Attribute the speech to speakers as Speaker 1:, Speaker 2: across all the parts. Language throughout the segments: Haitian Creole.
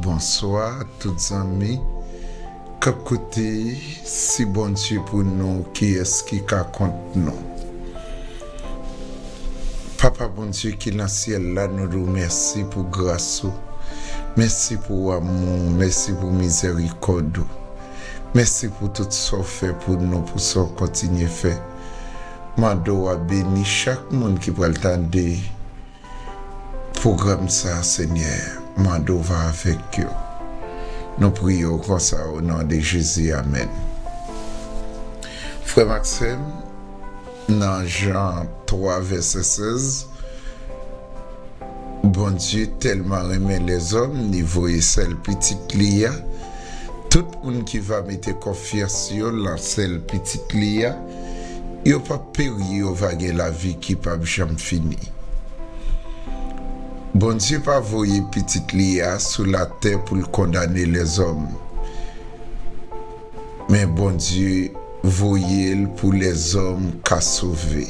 Speaker 1: Bonswa tout zanmi kap koute si Bondye pou nou kiyès ki ka kont nou papa Bondye ki nan syèl la nou di w mèsi pou gras ou mèsi pou amou w mèsi pou mizèrikòd ou mèsi pou tout sa w fè pou nou pou sa w kontinye fè. Mande w a beni chak moun ki pral tande pwogram sa Senyè, mande w va avèk yo. Nou priye w konsa o non de Jezi amèn. Frè m ak sè m nan Jan 3 vèsè 16. Bondye tèlman renmen lèzòm li voye sèl pitit li a, tout moun ki va mete konfyans yo lan sèl pitit li a, yo pap peri yo va gen lavi ki pap janm fini. Bondye pa voye pitit li a sou latè pou l kondane lèzòm. Men Bondye voye l pou lèzòm ka sove.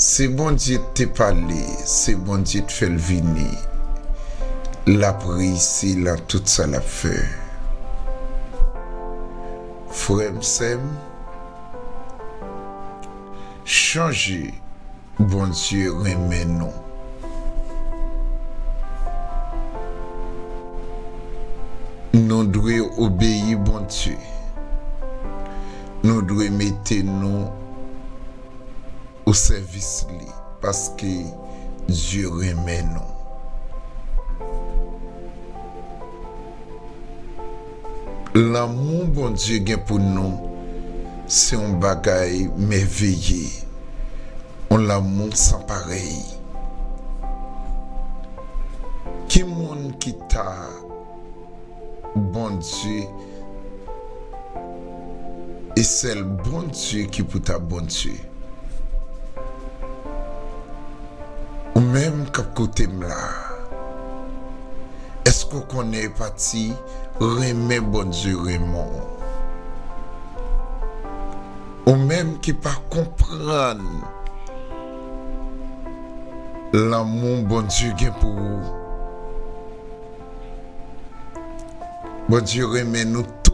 Speaker 1: Se Bondye t te pale, se Bondye t fè l vini. L ap reyisi lan tout sa l ap fè. Frè m, sè m, chanje. Bondye renmen nou. Nou dwe obeyi Bondye. Nou dwe mete nou osèvis li paske Dye renmen nou. Lanmou Bondye gen pou nou se yon bagay mèveye, yon lanmou san parèy. Ki moun ki ta Bondye? E sèl Bondye ki pou ta Bondye. Ou menm k ap koute m la a, èske w konnen pati renmen Bondye renmen w? Ou menm ki pa konprann lanmou Bondye gen pou ou, Bondye renmen nou tout.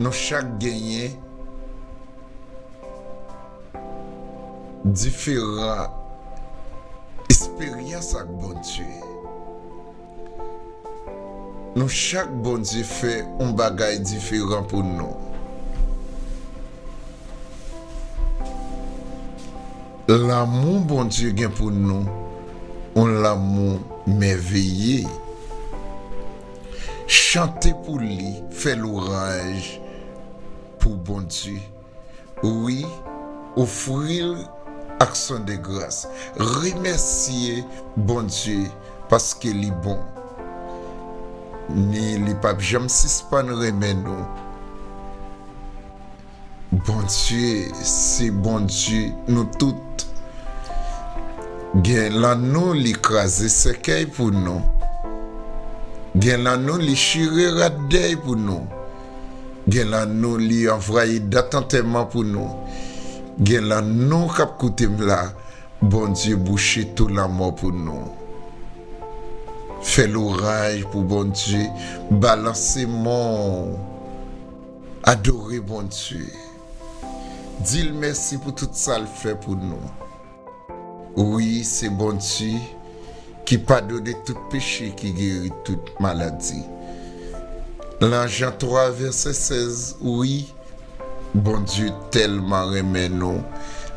Speaker 1: Nou chak genyen diferan esperyans ak Bondye. Nou chak Bondye fè yon bagay diferan pou nou. Lanmou Bondye gen pou nou yon lanmou mèveye. Chante pou li, fè louranj pou Bondye, wi, ofri l aksyon de gras. Remèsye Bondye paske li bon, ni li pap janm sispann renmen nou. Bondye se Bondye nou tout gen lan nou li kraze sèkèy pou nou gen lan nou li chire rad dèy pou nou gen lan nou li anvwaye dat antèman pou nou gen lan nou kap koutem la Bondye bouche tou lanmò pou nou fè louranj pou Bondye balanse monw. Adore Bondye. Di l mèsi pou tout sa l fè pou nou. Wi, se Bondye ki padone tout peche, ki geri tout maladi. Lan Jan 3 vèsè 16, wi, Bondye tèlman renmen nou,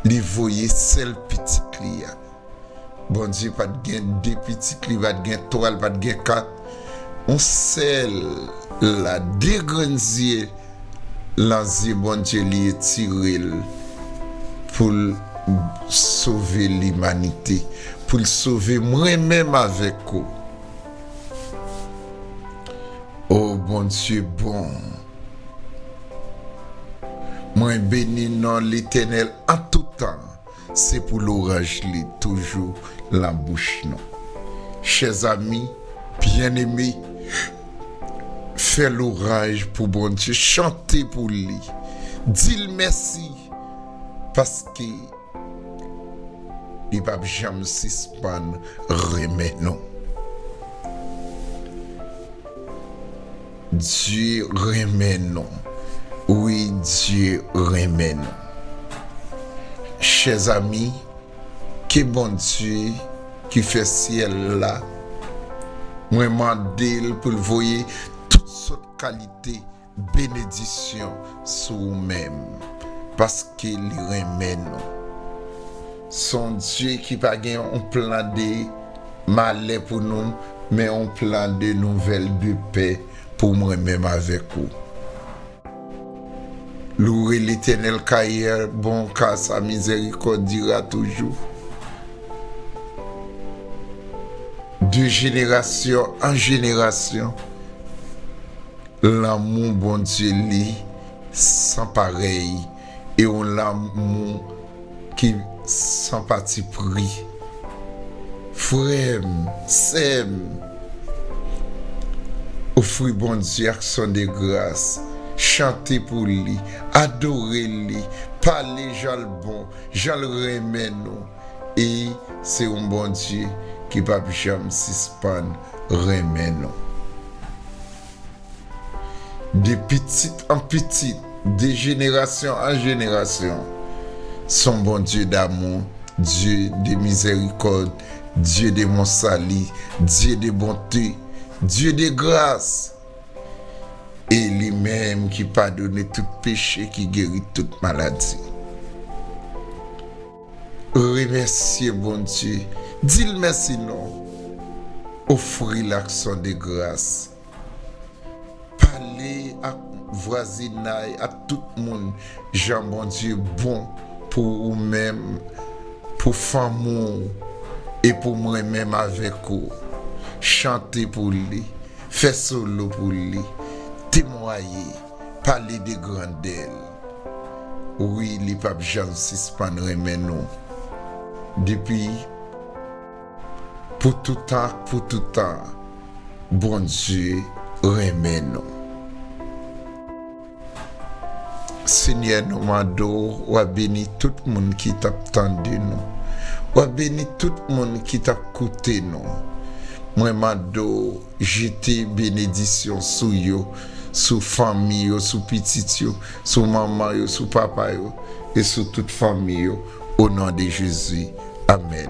Speaker 1: li voye sèl Pitit li a. Bondye pat gen 2 pitit li pat gen 3 li pat gen 4 yon sèl la 2 grenn zye lan zye Bondye li etirel poul sove limanite poul sove mwen menm avèk ou oh Bondye bon mwen beni non letènèl an toutan. Se pou loranj li toujou lan bouch nou. Chers amis bien aimé fè loranj pou Bondye chante pou li dil mèsi paske li pap janm sispann renmen nou. Bndye renmen nou wi Bndye renmen nou chèz ami ke Bndye ki fè syèl la mwen mandel poul voye tout sòt kalite benedisyon sou ou menm paske li renmen nou. Son Dye ki pa gen yon plan de malè pou nou men yon plan de nouvèl de pè pou mwen menm avèk ou. Loure Letènèl ka yè bon ka sa mizèrikòd dira toujou. De jenerasyon an jenerasyon lanmou Bondye li san parèy. E yon lanmou ki san pati pri. Frè m, sè m, ofri Bondye aksyon de gras, chante pou li, adore li, pale jan l bon, jan l renmen nou. E se yon Bondye ki pap janm sispann renmen nou. De pitit an pitit, de jenerasyon an jenerasyon. Son Bondye damou, Dye de mizèrikòd, Dye de mon sali, Dye de bonte, Dye de gras. E li menm ki padone tout peche, ki geri tout maladi. Remèsye Bondye, di l mèsi non. Ofri l aksyon de gras. Pale ak vwazinay ak tout moun jan Bondye bon pou ou menm pou fanmi w e pou mwen menm avèk ou chante pou li fè solo pou li temwaye pale de grandè l wi li pap janm sispann renmen nou depi Pou toutan ak pou toutan Bondye renmen nou. Senyè nou mande w wa beni tout moun ki tap tande nou wa beni tout moun ki tap koute nou mwen mande w jete benedisyon sou yo sou fanmi yo sou pitit yo sou manman yo sou papa yo e sou tout fanmi yo. O non de Jezi, amèn.